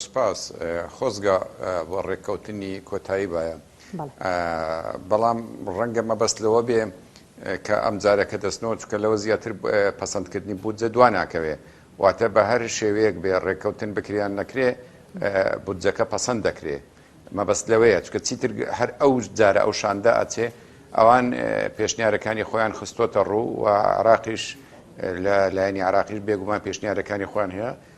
سپاس خۆزگە بۆ ڕێککەوتنی کۆتایی بایە بەڵام ڕەنگە مەبەست لەوە بێ کە ئەم جارەکە دەستنەوە چکە لەوە زیاتر پەسەندکردنی بودجە دوا ناکەوێ واتە بە هەر شێوەیەک بێ ڕێککەوتن بکریان نەکرێ بودجەکە پەسەند دەکرێ مەبەست لەوەیە چکە چیتر هەر ئەو جارە ئەو شاندە ئەچێ ئەوان پێشنیارەکانی خۆیان خستۆتە ڕوو و عراقیش لە لایەنی عراقیش بێگومان پێشنیارەکانی خۆیان هەیە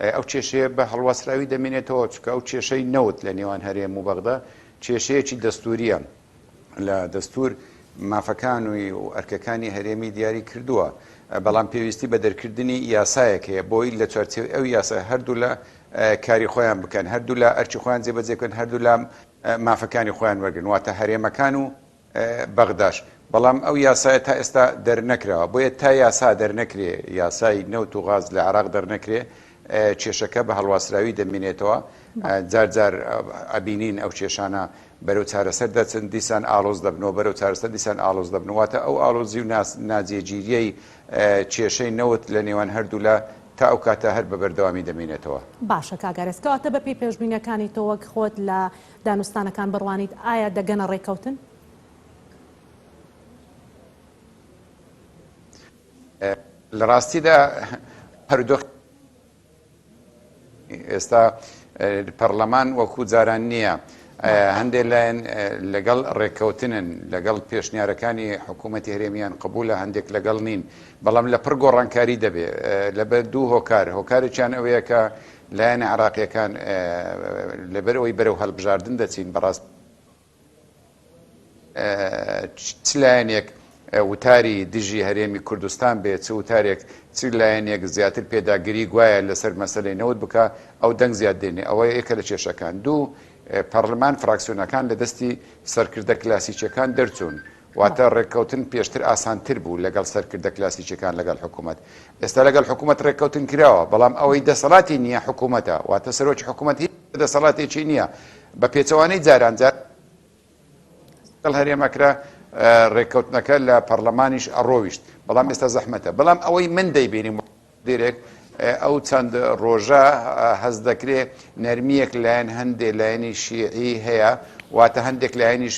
ئەو کێشەیە بە هەڵواسراوی دەمێنێتەوە، چونکە ئەو کێشەی نەوت لە نێوان هەرێم و بەغدا کێشەیەکی دەستوورییە، لە دەستوور مافەکان و ئەرکەکانی هەرێمی دیاری کردووە، بەڵام پێویستی بە دەرکردنی یاسایەک هەیە بۆی لە چوارچێوەی ئەو یاسایە هەردوولا کاری خۆیان بکەن، هەردوولا ئەرکی خۆیان جێبەجێ بکەن، هەردوولا مافەکانی خۆیان وەرگرن، واتە هەرێمەکان و بەغداش، بەڵام ئەو یاسایە تا ئێستا دەرنەکراوە، بۆیە تا یاسا دەرنەکرێ، یاسای نەوت و غاز لە عێراق دەرنەکرێ، کێشەکە بە هەڵواسراوی دەمینێتەوە، جار جار ئەبینین ئەو کێشانە بەرەو چارەسەر دەچن، دیسان ئاڵۆز دەبنەوە، بەرەو چارەسەر دیسان ئاڵۆز دەبن، واتە ئەو ئاڵۆزی و ناجێگیرییەی کێشەی نەوت لە نێوان هەردوولا تا ئەو کاتە هەر بە بەردەوامی دەمینێتەوە. باشە کاک ئارەس، کەواتە بەپێی پێشبینیەکانی تۆ وەک خۆت لە. دانوستانەکان بڕوانیت ئایا دەگەنە ڕێککەوتن؟ لە ڕاستیدا پەردۆخی ئێستا پەرلەمان وەکو جاران نییە هەندێک لایەن لەگەڵ ڕێککەوتنن لەگەڵ پێشنیارەکانی حکوومەتی هەرێمیان قبول لە هەندێک لەگەڵ نین بەڵام لە پڕ گۆڕانکاری دەبێ لەبەر دوو هۆکار هۆکارێکیان ئەوەیە کە لایەنە عێراقییەکان لەبەر ئەوەی بەرەو هەڵبژاردن دەچین بەڕاست چ لایەنێک وتاری دژی هەرێمی کوردستان بێت چ وتارێک چ لایەنێک زیاتر پێداگری گوایە لەسەر مەسلەی نەوت بکە ئەو دەنگ زیاد دێنێ ئەوە یەکە لە کێشەکان دوو پەرلەمان فراکسیۆنەکان لە دەستی سەرکردە کلاسیکیەکان دەرچوون واتە ڕێککەوتن پێشتر ئاسانتر بوو لەگەڵ سەرکردە کلاسیکیەکان لەگەڵ حکومەت، ئێستا لەگەڵ حکومەت ڕێککەوتن کراوە، بەڵام ئەوەی دەسەڵاتی نییە حکومەتە، واتە سەرۆکی حکومەت هیچ دەسەڵاتێکی نییە، بە پێچەوانەی جاران جاران لەگەڵ هەرێم ئەکرا ڕێککەوتنەکە لە پەڕلەمانیش ئەڕۆیشت، بەڵام ئێستا زەحمەتە، بەڵام ئەوەی من دەیبینم. دێرێک ئەو چەند ڕۆژە هەست دەکرێ نەرمییەک لایەن هەندێ لایەنی شیعی هەیە واتە هەندێک لایەنیش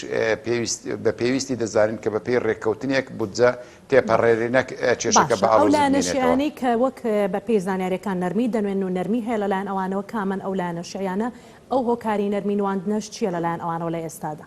بە پێویستی دەزانن کە بەپی ڕێککەوتنێک بودجە تێپەڕێرێنەک چێشەکە باڵانەشیانی کە وەک بە پێی زانانیارەکان نەرمی دەنوێن و نەرمی هەیە لەلایەن ئەوانەوە کامن ئەو لایەنە شیعیانە ئەو هۆکاری نەرمی نواندنەش چییە لەلایەن ئەوانەوە لە ئێستادا؟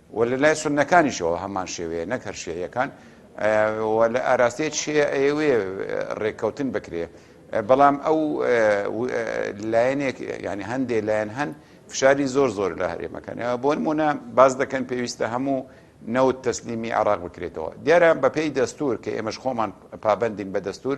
وە لە لای سوننەکانیشەوە هەمان شێوەیە نەک هەر شیعیەکان وە لە ئاراستەی شیعە ئەیەوێ ڕێککەوتن بکرێ بەڵام ئەو لایەنێک ینی هەندێ لایەن هەن فشاری زۆر زۆر لە هەرێمەکان بۆن مونە باز دەکەن پێویستە هەموو نەوت تەسلیمی عراق بکرێتەوە دیارە بەپێی دەستور کە ئێمەش خۆمان پابندین بە دەستور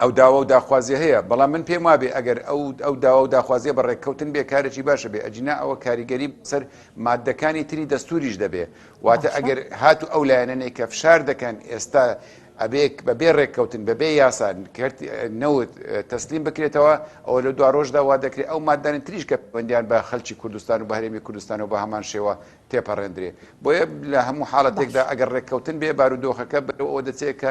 ئەو داوا و داخوازیە هەیە، بەڵام من پێم وابێ ئەگەر ئەو ئەو داوا و داخوازیە بە ڕێککەوتن بێ کارێکی باشە بێ، ئەگینا ئەوە کاریگەری سەر ماددەکانی تری دەستووریش دەبێ، واتە باشە. ئەگەر هاتوو ئەو لایەنەنەی کە فشار دەکەن ئێستا ئەبێ بە بێ ڕێککەوتن بە بێ یاسا کەرتی نەوت تەسلیم بکرێتەوە، ئەوە لە دوا ڕۆژدا وا دەکرێ ئەو ماددانە تریش کە پەیوەندیان بە خەلکی کوردستان و بە هەرێمی کوردستانەوە بە هەمان شێوە تێپەڕێندرێ، بۆیە لە هەموو حاڵەتێکدا باشە. ئەگەر ڕێککەوتن بێ بارودۆخەکە بەرەو ئەوە دەچێ کە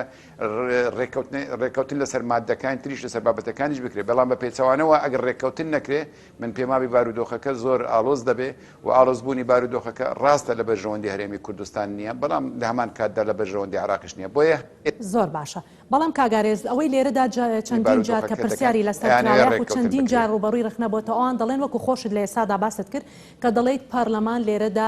رێککەوتن لەسەر ماددەکانی تریش لەسەر بابەتەکانیش بکرێت، بەڵام بە پێچەوانەوە ئەگەر رێککەوتن نەکرێت، من پێموابی بارودۆخەکە زۆر ئاڵۆز دەبێت و ئاڵۆزبوونی بارودۆخەکە راستە لە بەرژەوەندی هەرێمی کوردستان نییە، بەڵام لە هەمان کاتدا لە بەرژەوەندی عێراقیش نییە، بۆیە. زۆر باشە، بەڵام کاک ئارێز ئەوەی لێرەدا چەندین جار کە پرسیاری لەسەر کراوە یاخود چەندین جار رووبەڕووی رەخنە بۆتەوە، ئەوان دەڵێن وەکو خۆشت لە ئێستادا باست کرد کە دەڵێیت پارلەمان لێرەدا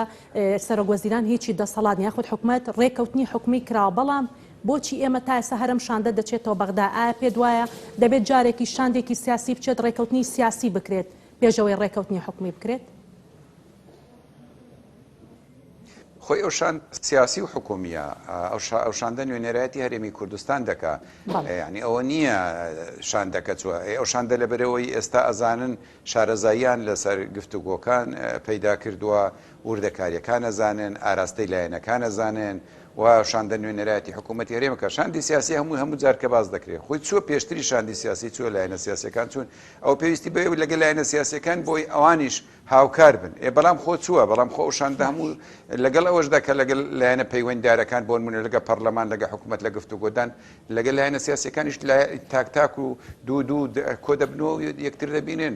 سەرۆکوەزیران هیچی دەسەڵات نییە یاخود حکومەت رێککەوتنی حکومی کراوە، بەڵام. بۆچی ئێمە تا ئێستا هەرەم شاندە دەچێتەوە بەغدا؟ ئایا پێت وایە دەبێت جارێکیش شاندێکی سیاسی بچێت ڕێکەوتنی سیاسی بکرێت پێش ئەوەی ڕێکەوتنی حکومی بکرێت؟ خۆی ئەو شاند سیاسی و حکومیە ئەو شاندە نوێنێرایەتی هەرێمی کوردستان دەکا ینی ئەوە نییە شاندەکە چوە ئەو شاندە لە بەرەوەی ئێستا ئەزانن شارەزاییان لەسەر گفتوگۆکان پەیدا کردووە وردەکارییەکان ئەزانن، ئاراستەی لایەنەکان ئەزانن و شاندە نوێنەرایەتی حکوومەتی هەرێم کە شاندی سیاسی هەمووی هەموو جار کە باس دەکرێت خۆی چووە پێشتری شاندی سیاسی چووە لایەنە سیاسیەکان چوون ئەو پێویستی بە ئێوە لەگەل لایەنە سیاسیەکان بۆی ئەوانیش هاوکار بن ئێ بەڵام خۆ چووە بەڵام خۆ ئەو شاندە هەموو لەگەڵ ئەوەشدا کە لەگەل لایەنە پەیوەنددارەکان بۆن منە لەگە پەرلەمان لەگە حکوومەت لە گفتو گۆدان لەگەل لایەنە سیاسیەکانیش تاک تاک و دوو دوو کۆ دەبنەوە یەکتر دەبینن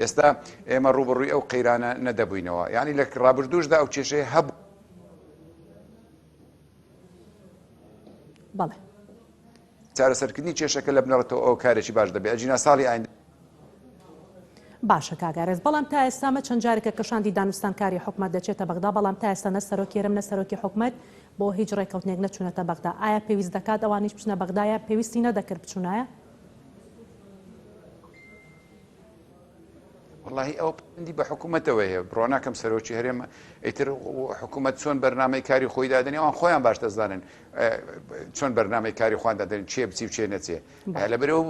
ئێستا ئێمە ڕووبەڕووی ئەو قەیرانە نەدەبووینەوە یعنی لە ڕابردووشدا ئەو کێشەیە هەبوو بەڵێ چارەسەرکردنی کێشەکە لە بنەڕەتەوە ئەو کارێکی باش دەبێت ئەجینا ساڵی ئاین باشە کاگارێز بەڵام تا ئێستامە چەند جارێکە کە شاندی دانوستانکاری حکومت دەچێتە بەغدا بەڵام تا ئێستا نە سەرۆکێرم نە سەرۆکی حکومت بۆ هیچ ڕێککەوتنێک نەچوونەتە بەغدا ئایا پێویست دەکات ئەوانیش بچنە بەغدایە پێویستی نەدەکرد بچوونایە وەڵاهی ئەو پندی بە حکوومەتەوە هەیە بڕۆناکەم سەرۆکی هەرێم ئیتر حکوومەت چۆن بەرنمەی کاری خۆی دادنی ئەوان خۆیان باش دەزانن چۆن بەرنمەی کاری خوان دادن چێ بچی و چێ نەچێ لە بەرە و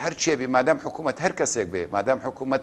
هەر چێبی مادام حکوومەت هەر کەسێک بێ مادام حکوومەت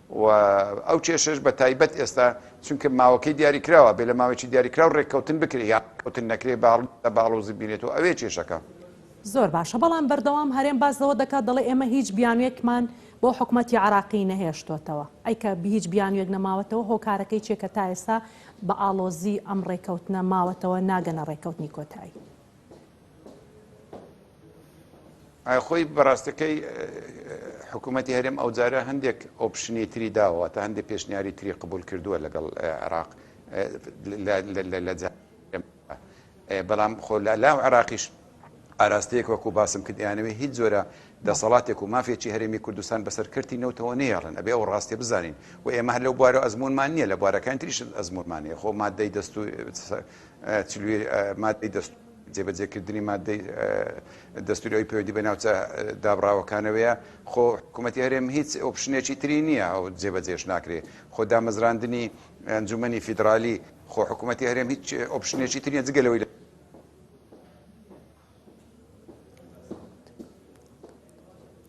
و ئەو کێشەش بە تایبەت ئێستا چونکە ماوەکەی دیاری کراوە بێ لە ماوەیەکی دیاری کراو ڕێککەوتن بکرێ یان ڕێککەوتن نەکرێ بە بە ئاڵۆزی بینێت و ئەوێ کێشەکە. زۆر باشە بەڵام بەردەوام هەرێم باس لەوە دەکات دەڵێ ئێمە هیچ بیانوێکمان بۆ حکومەتی عێراقی نەهێشتۆتەوە ئەی کە هیچ بیانوێک نەماوەتەوە هۆکارەکەی چیە کە تا ئێستا بە ئاڵۆزی ئەم ڕێککەوتنە ماوەتەوە ناگەنە ڕێککەوتنی کۆتایی؟ خۆی بەڕاستەکەی حکوومەتتی هەرێم ئەوجارە هەندێک ئۆپشنی تری داوە تا هەندێک پێشنیاری تری قبول کردووە لەگەڵ عراق لە بەڵام خۆ لە لاو عراقیش ئاراستەیەک وەکو باسم کردیانەوەی هیچ جۆرە دەسەڵاتێک و مافێکی هەرێمی کوردستان بەسەر کردی نەوتەوە نێڵن ئەبێ ئەو ڕاستێ بزانین و ئێمە هەر لەو بوارە ئەزمونمان نییە لە بوارەکان تریش ئەزمونمانەیە خۆ مادەی دەست و چلوی مادەی دەستوور جێبەجێکردنی مادەی دەستووری ئەوی پەیوەندی بە ناوچە دابڕاوەکانەوەیە خۆ حکوومەتی هەرێم هیچ ئۆپشنێکی تری نییە ئەو جێبەجێش ناکرێ خۆ دامەزراندنی ئەنجومنی فیدرالی خۆ حکوومەتی هەرێم هیچ ئۆپشنێکی تریە جگەلەوەی لە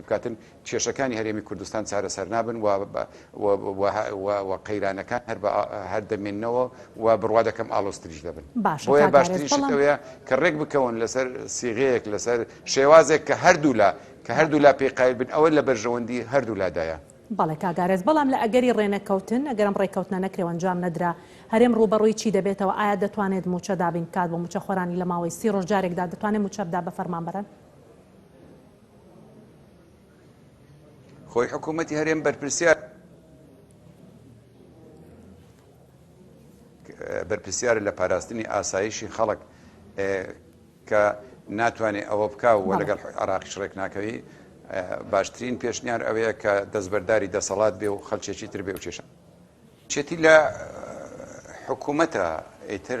بکاتن کێشەکانی هەرێمی کوردستان چارەسەر نابن و قەیرانەکان هەر دەمێنەوە و بڕوا دەکەم ئالۆستریش دەبن باشە باشتریشەوەیە کە ڕێک بکەون لەسەر سیغەیەک لەسەر شێوازێک کە هەردوو لە کە هەردوو لا پێی قایل بن ئەوە لە بەرژەوەندی هەردوو لادایە بەڵێ کاگارێز بەڵام لە ئەگەری ڕێنەکەوتن ئەگەرم ڕێککەوتنە نەکرێ ئەنجام نەدرا هەرێم ڕووبەڕووی چی دەبێتەوە ئایا دەتوانێت مووچە دابین بکات بۆ مووچەخۆرانی لە ماوەی سی ڕۆژ جارێکدا دەتوانێت مووچە بدا بە فەرمانبەران؟ خۆی حکوومەتی هەرێم بەرپرسیار بەرپسیار لە پاراستنی ئاسایشی خەڵک کە ناتوانێت ئەوە بکە و لەگەڵ عراقیش ڕێک ناکەوی باشترین پێشنیار ئەوەیە کە دەستبەرداری دەسەڵات بێ و خەلچێکی تر بێ و کێشە چێتی لە حکوومەتە ئیتر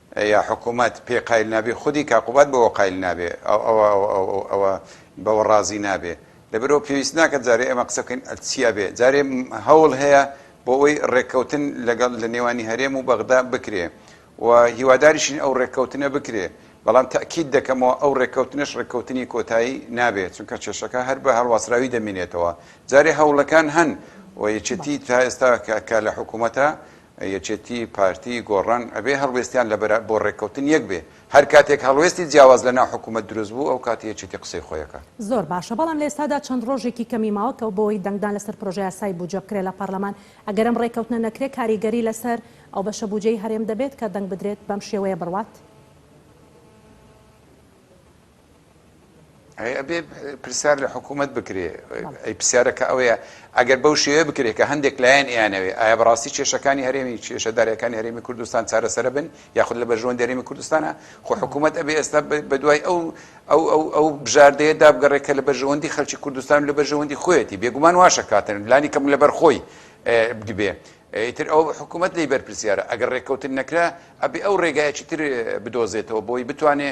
یا حکومەت پێی قایل نابێ خودی کاک قوباد بەوە قایل نابێ ئەو ئەوە ئەوە ئەو ئەو ئەوە بەوە ڕازی نابێ لەبەرئەوە پێویست ناکات جارێ ئێمە قسە بکەین چیا بێ جارێ هەوڵ هەیە بۆ ئەوەی ڕێککەوتن لەگەڵ لە نێوانی هەرێم و بەغدا بکرێ و هیواداریشین ئەو ڕێککەوتنە بکرێ بەڵام تاکید دەکەمەوە ئەو ڕێککەوتنش ڕێککەوتنی کۆتایی نابێت چونکە کێشەکە هەر بە هەڵواسراوی دەمینێتەوە جارێ هەوڵەکان هەن و یەکێتی تا ئێستا کە لە حکوومەتە یەکێتی، پارتی، گۆڕان ئەبێ هەڵوێستیان لە بەرا بۆ ڕێککەوتن یەک بێ، هەر کاتێک هەڵوێستی جیاواز لە ناو حکوومەت دروست بوو ئەو کات یەکێتی قسەی خۆی ئەکات. زۆر باشە، بەڵام لە ئێستادا چەند ڕۆژێکی کەمی ماوە کە بۆی دەنگدان لەسەر پرۆژەیاسای بووجە بکرێ لە پارلەمان، ئەگەر ئەم ڕێککەوتنە نەکرێ کاریگەری لەسەر ئەو بەشە بووجەی هەرێم دەبێت کە دەنگ بدرێت بەم شێوەیە بڕوات؟ ئەی ئەبێ پرسیار لە حکوومەت بکرێ ئەی پرسیارەکە ئەوەیە ئەگەر بەو شێوێ بکرێت کە هەندێک لایەن ئەیانەوێ ئایا بەڕاستی کێشەکانی هەرێمی کێشەدارەکانی هەرێمی کوردستان چارەسەر بن یاخود لە بەژوان دەرێمی کوردستانە خۆ حکوومەت ئەبێ ئێستا بە دوای ئەو ئەو ئەو ئەو بژاردەیە دابگەڕێ کە لە بەژەوەندی خەلکی کوردستان لە بەژەوەندی خۆیەتی بێگومان واشە کاتن لانی کەم لەبەر خۆی بدبێ ئیتر ئەو حکوومەت لی بەرپرسیارە ئەگەر ڕێککەوتن نەکرا ئەبێ ئەو ڕێگایەکی تر بدۆزێتەوە بۆی بتوانێ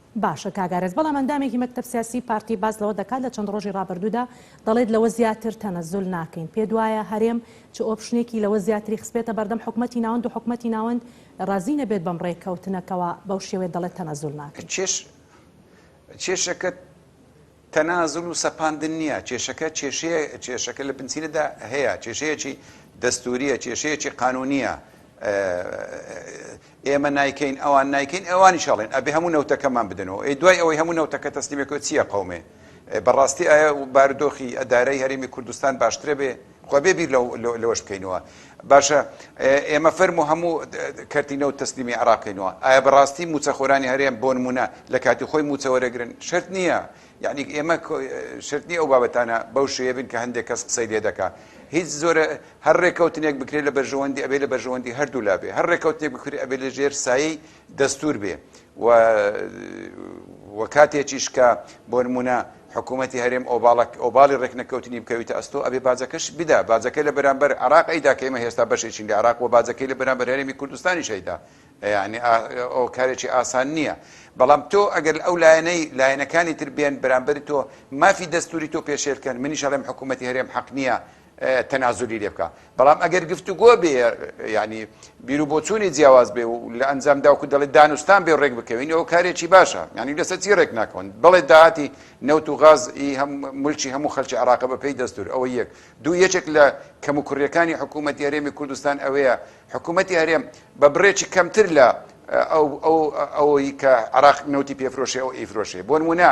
باشە کاک ئارەز بەڵام ئەندامێکی مەکتەب سیاسی پارتی باس لەوە دەکات لە چەند ڕۆژی ڕابردوودا دەڵێت لەوە زیاتر تەنەزول ناکەین پێت وایە هەرێم چ ئۆپشنێکی لەوە زیاتری خستبێتە بەردەم حکومەتی ناوەند و حکومەتی ناوەند ڕازی نەبێت بەم ڕێککەوتنە کەوا بەو شێوەیە دەڵێت تەنەزول ناکەین؟ کێشە کێشەکە. تەنازول و سەپاندن نییە، کێشەکە کێشەیە، کێشەکە لە بنچینەدا هەیە، کێشەیەکی دەستوورییە، کێشەیەکی قانوونییە، ئێمە نایکەین، ئەوان نایکەین، ئەوانیش ئەڵێن ئەبێ هەموو نەوتەکەمان بدەنەوە، ئەی دوای ئەوەی هەموو نەوتەکە تەسلیمێکەوە چییە قەومێ؟ بەڕاستی ئایا بارودۆخی ئەدارەی هەرێمی کوردستان باشترەبێ؟ خۆ بێ بیر لەوەش بکەینەوە باشە ئێمە فەرمو هەموو کەرتی نەوت تەسلیمی عراق بکەینەوە ئایا بەڕاستی موچەخۆرانی هەرێم بۆ نمونە لە کاتی خۆی موچە وەرەگرن شرت نییە یعنی ئێمە شرتنی ئەو بابەتانە بەو شێ بن کە هەندێک کەس قسەی لێ دەکا هیچ زۆرە هەر ڕێککەوتنێک بکرێت لە بەرژەوەندی ئەبێ لە بەرژەوەندی هەردوو لابێ هەر ڕێککەوتێک بکرێت ئەبێ لە ژێر سایی دەستوور بێ و و کاتێکیش کە بۆ نمونە حکوومەتی هەرێم ئۆباڵک ئۆباڵی ڕێکنەکەوتنی بکەویتە ئەستۆ ئەبێ باجەکەش بدا باجەکەی لە بەرامبەر عراق ئەیدا کە ئمە هێستا بەشێکین لە عراق و باجەکەی لە بەرامبەر هەرێمی کوردستانی شەیدا یعنی ئەو کارێکی ئاسان نییە بەڵام تۆ ئەگەر ئەو لایەنەی لایەنەکانی تر بێن بەرامبەری تۆ مافی دەستوری تۆ پێشێلکەن منیش هەڵێم حکوومەتتی هەرێم حەق نییە تەنازولی لێ بکا بەڵام ئەگەر گفتوگۆ بێ یعنی بیرو بۆچوونی جیاواز بێ و لە ئەنجام داوکو دەڵێت دانوستان بێ ڕێک بکەوین ئەو کارێکی باشە ینی لەسەر چی ڕێک ناکەون بڵێ داهاتی نەوت و غاز هەم ملکی هەموو خەلکی عراق بە پێی دەستور ئەوە یەک دوو یەکێک لە کەم و کوڕیەکانی حکوومەت هەرێمی کوردستان ئەوەیە حکوومەتتی هەرێم بە بڕێکی کەمتر لە ئەوەی کە عراق نەوتی پێفرۆشێ ئەو ئیفرۆشێ بۆن ونا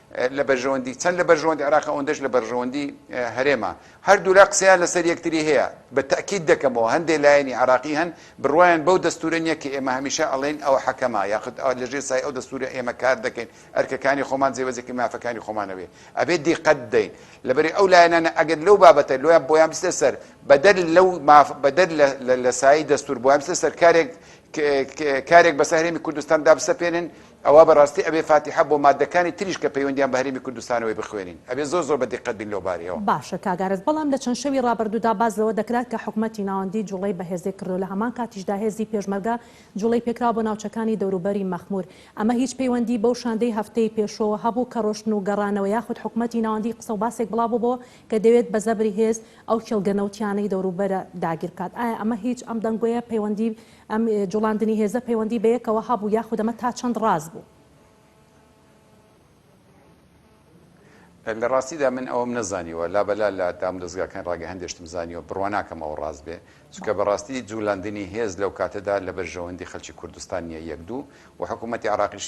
لە بەرژەوەندی چەند لە بەرژەوەندی عێراقە ئەوەندەش لە بەرژەوەندی هەرێمە. هەردوولا قسەیان لەسەر یەکتری هەیە. بە تەئکید دەکەمەوە هەندێ لایەنی عێراقی هەن بڕوایان بەو دەستورە نیە کە ئێمە هەمیشە ئەڵێین ئەوە حەکەمە یاخود ئەوە لەژێر سایەی ئەو دەستورە ئێمە کار دەکەین ئەرکەکانی خۆمان جێبەجێ کەین مافەکانی خۆمان ئەوێ ئەبێ دیقەت بدەین لەبەری ئەو لایەنانە ئەگەر لەو بابەتە لۆیان بۆیان بچتە سەر بەدەر لەو ماف بەدەر لە لە سایەی دەستور بۆیان بچتە سەر کارێک کارێک بەسەر هەرێمی کوردستان دابسەپێنن ئەوا بەڕاستی ئەبێ فاتیحە بۆ مادەکانی تریش کە پەیوەندیان بە هەرێمی کوردستانەوەی بخوێنین. ئەبێ زۆر زۆر بە دیقەت بین لەو بارەیەوە. باشە کاک ئارەس بەڵام لە چەند شەوی ڕابردوودا باس لەوە دەکرا کە حکومەتی ناوەندی جوڵەی بەهێزێ کردووە لە هەمان کاتیشدا هێزی پێشمەرگە جوڵەی پێکراوە بۆ ناوچەکانی دەوروبەری مەخمور ئەمە هیچ پەیوەندی بەو شاندەی هەفتەی پێشوەوە هەبوو کە ڕۆشتن و گەڕانەوە یاخود حکومەتی ناوەندی قسەو باسێک بڵابووبەوە کە دەوێت بە زەبری هێز ئەو کێڵگە نەوتیانەی دەوروبەرە داگیر بکات ئایا ئەمە هیچ ئەم دەنگۆیە پەیوەندی ئەم جوڵاندنی هێزە پەیوەندی بەیەکەوە هەبوو یاخود ئەمە تا چەند ڕاست بوو؟ لە ڕاستیدا من ئەوەم نەزانیوە، لابەلا لە دامودەزگاکانی ڕاگەهندێ شتم زانیوە، بڕوا ناکەم ئەوە ڕاست بێ، چونکە بە ڕاستی جوولەندنی هێز لەو کاتەدا لە بەرژەوەندی خەلکی کوردستان نییە یەک دوو و حکوومەتی عێراقیش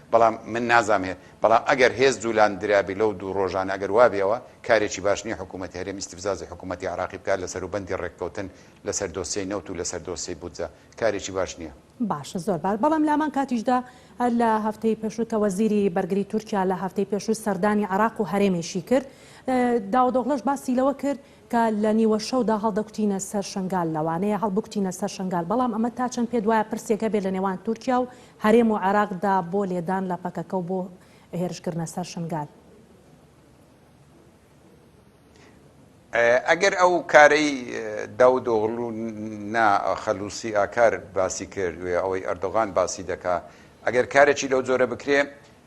بەڵام من نازام هێ بەڵام ئەگەر هێز جولان درابی لەو دوو ڕۆژانە ئەگەر وابی ئەوە کارێکی باش نیە حکومەتی هەرێم ئیستفزازی حکومەتی عراقی بکات لە سەروبەندی ڕێککەوتن لە سەر دۆسیەی نەوت و لە سەر دۆسیەی بودجە کارێکی باش نیە. باشە زۆر باش بەڵام لامان کاتیشدا لە هەفتەی پێشوو کە وەزیری بەرگری تورکیا لە هەفتەی پێشوو سەردانی عراق و هەرێمیشی کرد داودۆغلۆش باسی لەوە کرد کە لە نیوە شەودا هەڵدەکوتینە سەر شنگال لەوانەیە هەڵبکوتینە سەر شنگال بەڵام ئەمە تا چەند پێت وایە پرسێک هەبێت لە نێوان تورکیا و هەرێم و عێراق دا بۆ لێدان لە پەکەکە و بۆ هێرش کردنە سەر شنگال؟ ئەگەر ئەو کارەی داود ئۆغلو نا خەلوسی ئاکار باسی کرد وێ ئەوەی ئەردۆغان باسی دەکا ئەگەر کارێکی لەو جۆرە بکرێ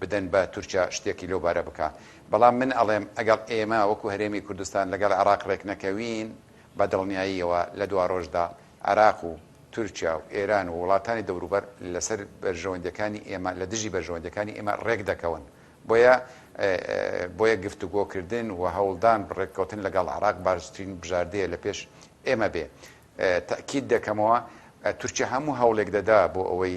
بدەن بە تورکیا شتێکی لەو بارە بکا بەڵام من ئەڵێم ئەگەڵ ئێمە وەکو هەرێمی کوردستان لەگەڵ عێڕاق ڕێک نەکەوین بە دڵنیاییەوە لە دواڕۆژدا عێراق و تورکیا و ئێران و وڵاتانی دەوروبەر لە سەر بەرژەوەندیەکانی ئێمە لە دژی بەرژەوەندیەکانی ئێمە ڕێک دەکەون بۆیە بۆیە گفتوگۆ کردن و هەوڵدان ڕێک کەوتن لە گەڵ عێڕاق باشترین بژاردەیە لە پێش ئێمە بێ تەئکید دەکەمەوە تورکیا هەموو هەوڵێک دەدا بۆ ئەوەی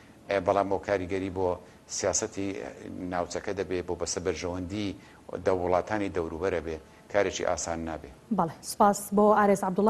بەڵام بۆ کاریگەری بۆ سیاسەتی ناوچەکە دەبێ بۆ بەسە بەرژەوەندی دە وڵاتانی دەوروبەرە بێ کارێکی ئاسان نابێ. بەڵێ سوپاس بۆ ئارێز عەبدوڵا.